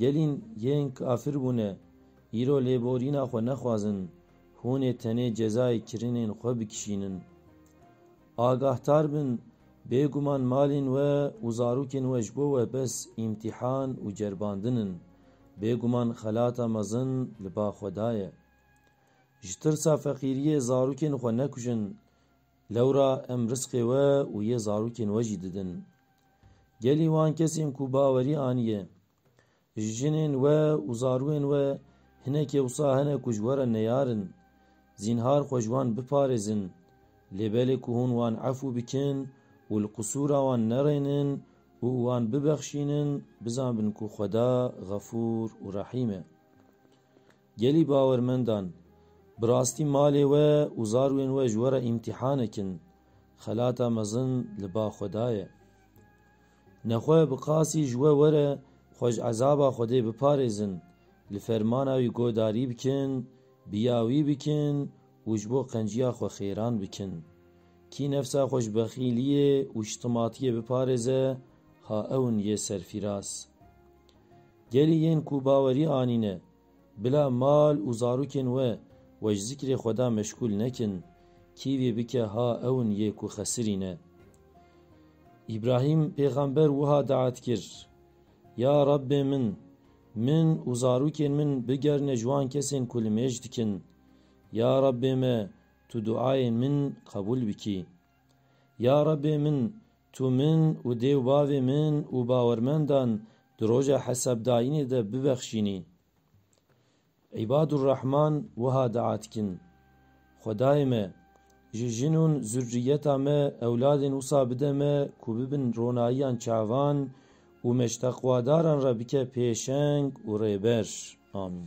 Gelîn yên kafir bûne, îro lêborîna xwe nexwazin, hûn ê tenê cezayê kirinên xwe bikişînin. Agahtar bin, bêguman malên we û zarokên we ji bo we bes îmtîhan û ceribandin in, bêguman xelata mezin li ba xwe da ye. Ji tirsa feqîriyê zarokên xwe nekujin, lewra em risqê we û yê zarokên we jî didin. Gelî wan kesên ku bawerî aniye ji jinên we û zarûyên we hinekê wisa hene ku ji we re neyar in, zînhar xwe ji wan biparêzin. Lê belê ku hûn wan efû bikin û li qisûra wan nerênin û wan bibexşînin, bizanbin ku Xweda Xefûr û Rehîm e. Gelî bawermendan, bi rastî malê we û zarwên we ji we re îmtîhanek in, xelata mezin li ba xwe daye. Nexwe bi qasî ji we were xwe ji ezaba Xwedê biparêzin, li fermana wî guhdarî bikin, biya wî bikin û ji bo qenciya xwe xêran bikin. Kî nefsa xwe ji bexîliyê û şitimatiyê biparêze, ha ew in yê serfîraz. Gelî yên ku bawerî anîne, bila mal û zarokên we we ji zikrê Xweda meşgûl nekin, kîvî bike ha ew in yê ku xesirî ne. Îbrahîm pêxember wiha daet kir, Ya Rabbê min, min û zarokên min bigerine ji wan kesên ku li mêj dikin. Ya Rabbê me, tu duayên min qebûl bikî. Ya Rebê min, Tu min û dê û bavê min û bawermendan di Roja Hesabdayînê de bibexşînî. Îbadurrahman wiha dua dikin, Xwedayê me, ji jin ûn zurrîyeta me ewladên wisa bide me ku bibin ronayiyan çavan û me ji teqwadaran re bike pêşeng û rêber. Amîn.